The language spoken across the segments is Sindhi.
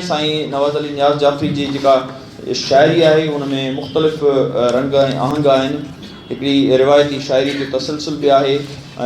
سائين نواز علي نياز جعفري جي جيڪا شاعري آهي ان ۾ مختلف رنگ ۽ آهنگ آهن هڪڙي روايتي شاعري جو تسلسل به آهي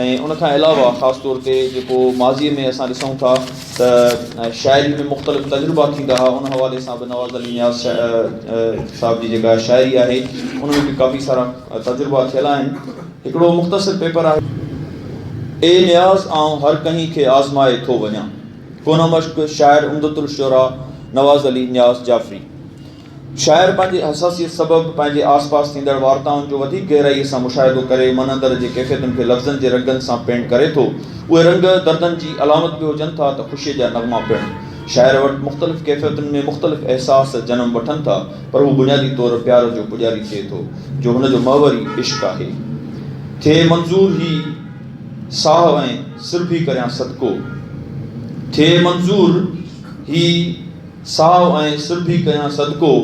۽ ان کان علاوه خاص طور تي جيڪو ماضي ۾ اسان ڏسون ٿا ته شاعري ۾ مختلف تجربا ٿيندا ها ان حوالي سان به نواز علي نياز صاحب جي جيڪا شاعري آهي ان ۾ به ڪافي سارا تجربا ٿيل آهن هڪڙو مختصر پيپر آهي اي نياز آئون هر ڪنهين کي آزمائي ٿو وڃان. ڪونه مشڪ، شاعر عمدة الشعراء نواز علي نياز جعفري. شاعر پنهنجي حساسيت سبب پنهنجي آس پاس ٿيندڙ وارتائن جو وڌيڪ گهرائيء سان مشاهدو ڪري من اندر جي ڪيفيتن کي لفظن جي رنگن سان پينٽ ڪري ٿو. اهي رنگ دردن جي علامت به هجن ٿا ته خوشيء جا نغما پڻ. شاعر وٽ مختلف ڪيفيتن ۾ مختلف احساس جنم وٺن ٿا پر هو بنيادي طور پيار جو پڄاري ٿئي ٿو جو هن جو محور ئي عشق آهي. ٿئي منظور هي. ساهه ۽ سرڀي ڪريان صدقو. ٿئي منظور هي ساهه ۽ سرڀي ڪيان صدقو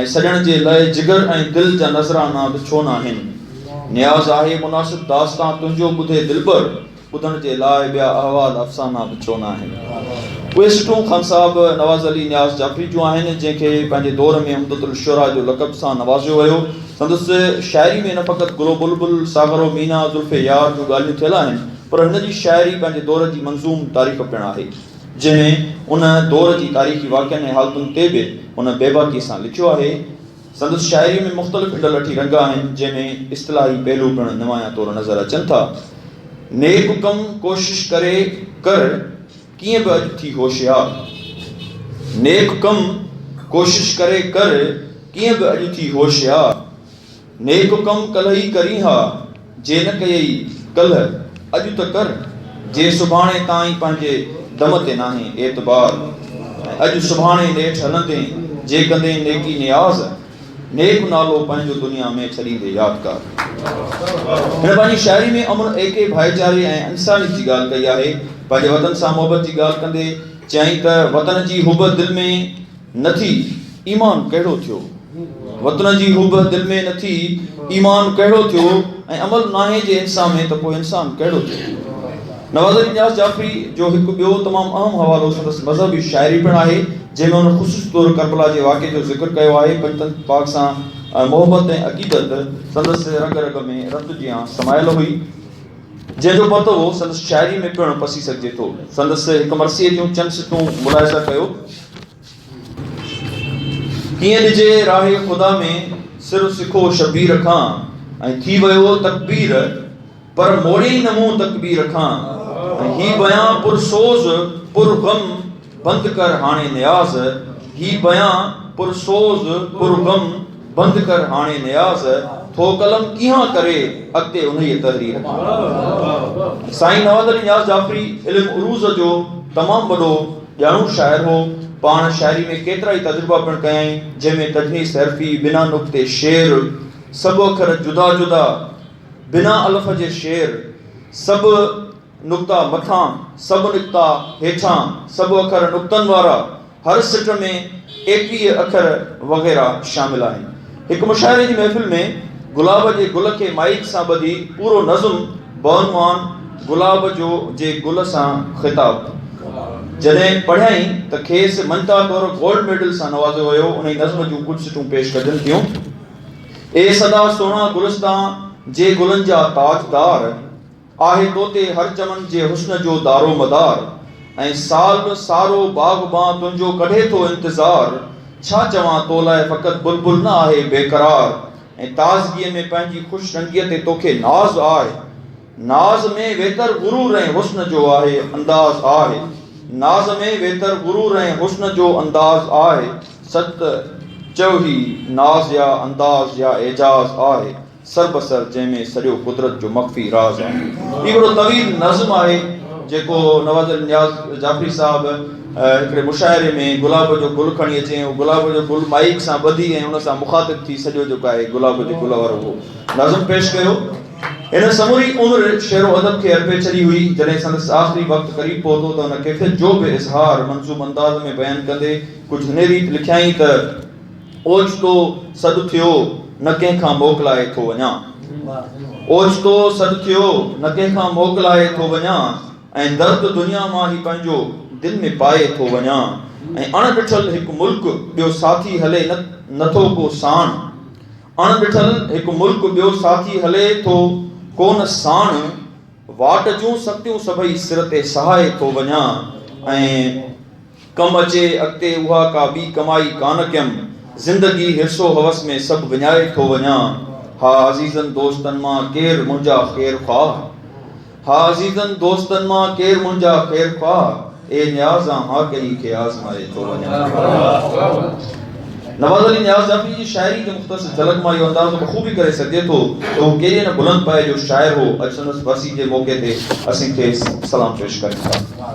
۽ سڄڻ جي لئه جگر ۽ دل جا نذرانا به ڇو ناهن. نياز آهي مناسب داستان تنهنجو ٻڌي دلبر ٻڌڻ جي لاء ٻيا احوال افسانا به ڇو ناهن. اهي سٽون خان صاحب نواز علي نياز جعفري جون آهن جنهن کي پنهنجي دور ۾ عمدة الشعراء جو لقب سان نوازيو ويو. سندس شاعري ۾ نه فقط گل و بلبل، ساغر و مينا، زلف يار جون ڳالهيون ٿيل آهن، پر هن جي شاعري پنهنجي دور جي منظوم تاريخ پڻ آهي، جنهن ۾ ان دور جي تاريخي واقعن ۽ حالتن تي به هن بيباڪيء سان لکيو آهي. سندس شاعريء ۾ مختلف انڊلٺي رنگ آهن، جنهن ۾ اصطلاحي پهلو پڻ نمايان طور نظر اچن ٿا. نيڪ ڪم ڪوشش ڪري ڪر. ڪيئن به اڄ ٿي هوشيار. نيڪ ڪم ڪوشش ڪري ڪر ڪيئن به اڄ ٿي هوشيار. نيڪ ڪم ڪلهه ئي ڪرين ها جي نه ڪيئي ڪلهه اڄ ته ڪر جي سڀاڻي تائين پنهنجي دم تي ناهي اعتبار ۽ اڄ سڀاڻي نيٺ هلندين جي ڪندين نيڪي نياز. نيڪ نالو پنهنجو دنيا ۾ ڇڏيندي يادگار. هن پنهنجي شاعري ۾ امن، ايڪي، ڀائيچاري ۽ انسانيت جي ڳالهه ڪئي آهي. پنهنجي وطن سان محبت جي ڳالهه ڪندي چيائين ته وطن جي حب دل ۾ نه ٿي، ايمان ڪهڙو ٿيو. وطن جي حب دل ۾ نه ٿي، ايمان ڪهڙو ٿيو ۽ عمل ناهي جي انسان ۾ ته پوء انسان ڪهڙو ٿيو. نواز علي نياز جعفري جو هڪ ٻيو تمام اهم حوالو سندس مذهبي شاعري پڻ آهي، جنهن ۾ هن خصوصي طور ڪربلا جي واقعي جو ذڪر ڪيو آهي. پنجتن پاڪ سان محبت ۽ عقيدت سندس رڳ رڳ ۾ رت جيان سمايل هئي، جنهن جو پتو سندس شاعري ۾ پڻ پسي سگهجي ٿو. سندس هڪ مرثيي جون چند سٽون ملاحظه ڪيو. ائين ڏجي راهه خدا ۾ سر سکو شبير کان ۽ ٿي ويو تڪبير پر موڙيئي نه منهن تڪبير کان ۽ هي بيان پر سوز پر غم بند ڪر هاڻي نياز هي بيان پر سوز پر غم بند ڪر هاڻي نياز ٿو قلم ڪيهان ڪري اڳتي انهيء تحرير کان سائين نواب علي نياز جعفري علم عروض جو تمام وڏو ڄاڻو شاعر هو. پاڻ شاعري ۾ ڪيترائي تجربا پڻ ڪيائين، جنهن ۾ تجنيس حرفي، بنا نقطي شعر، سڀ اکر جدا جدا، بنا الف جي شعر، سڀ نقطا مٿان، سڀ نقطا هيٺان، سڀ اکر نقطن وارا، هر سٽ ۾ ايڪويهه اکر وغيره شامل آهن. هڪ مشاعري جي محفل ۾ گلاب جي گل کي مائيڪ سان ٻڌي پورو نظم بعنوان گلاب جو جي گل سان خطاب جڏهن پڙهيائين ته کيس مڃتا طور گولڊ ميڊل سان نوازيو ويو انهي نظم جون ڪجهه سٽون پيش ڪجن ٿيون اي سدا سهڻا گلستان جي گلن جا تاجدار. آهي تو تي هر چمن جي حسن جو دارومدار ۽ سال سارو باغبان تنهنجو ڪڍي ٿو انتظار ڇا چوان تو لاء فقط بلبل نه آهي بيقرار ۽ تازگيء ۾ پنهنجي خوش رنگيء تي توکي ناز آهي ناز ۾ ويتر غرور ۽ حسن جو آهي انداز آهي ناز ۾ ويتر غرور ۽ حسن جو انداز آهي ست چئو هي ناز يا انداز يا اعجاز آهي سر به سر جنهن ۾ سڄو قدرت جو مخفي راز آهي. هي وڏو طويل نظم آهي جيڪو نواز علي نياز جعفري صاحب هڪڙي مشاعري ۾ گلاب جو گل کڻي اچي ۽ گلاب جو گل مائيڪ سان ٻڌي ۽ ان سان مخاطب ٿي سڄو جيڪو آهي گلاب جي گل وارو اهو نظم پيش ڪيو. هن سموري عمر شعر و ادب کي ارپي ڇڏي هئي. جڏهن سندس آخري وقت قريب پهتو ته هن ڪيفيت جو به اظهار منظوم انداز ۾ بيان ڪندي ڪجهه هني ريت لکيائين ته. اوچتو سڏ ٿيو، نه ڪنهن کان موڪلائي ٿو وڃان. اوچتو سڏ ٿيو، نه ڪنهن کان موڪلائي ٿو وڃان ۽ درد دنيا مان هي پنهنجو دل ۾ پائي ٿو وڃان ۽ اڻ ڏٺل هڪ ملڪ ٻيو ساٿي هلي نه ٿو ڪو ساڻ اڻ ڏٺل هڪ ملڪ ٻيو ساٿي هلي ٿو ڪو نه ساڻ واٽ جون سختيون سڀئي سر تي سهائي ٿو وڃان ۽ ڪم اچي اڳتي اها ڪا ٻي ڪمائي ڪانه ڪيم، زندگي حرص و حوس ۾ سڀ وڃائي ٿو وڃان، ها عزيزن دوستن مان ڪير منهنجا خير خواهه، ها عزيزن دوستن مان ڪير منهنجا خير خواهه، اي نياز آن ها ڪنهن کي آزمائي ٿو وڃان. نواز علي نياز جعفري جي شاعري جي مختصر جهلڪ مان اهو اندازو بخوبي ڪري سگهجي ٿو ته هو ڪيڏي نه بلند پايي جو شاعر هو، اڄ سندس ورسي جي موقعي تي اسين کيس سلام پيش ڪريون ٿا.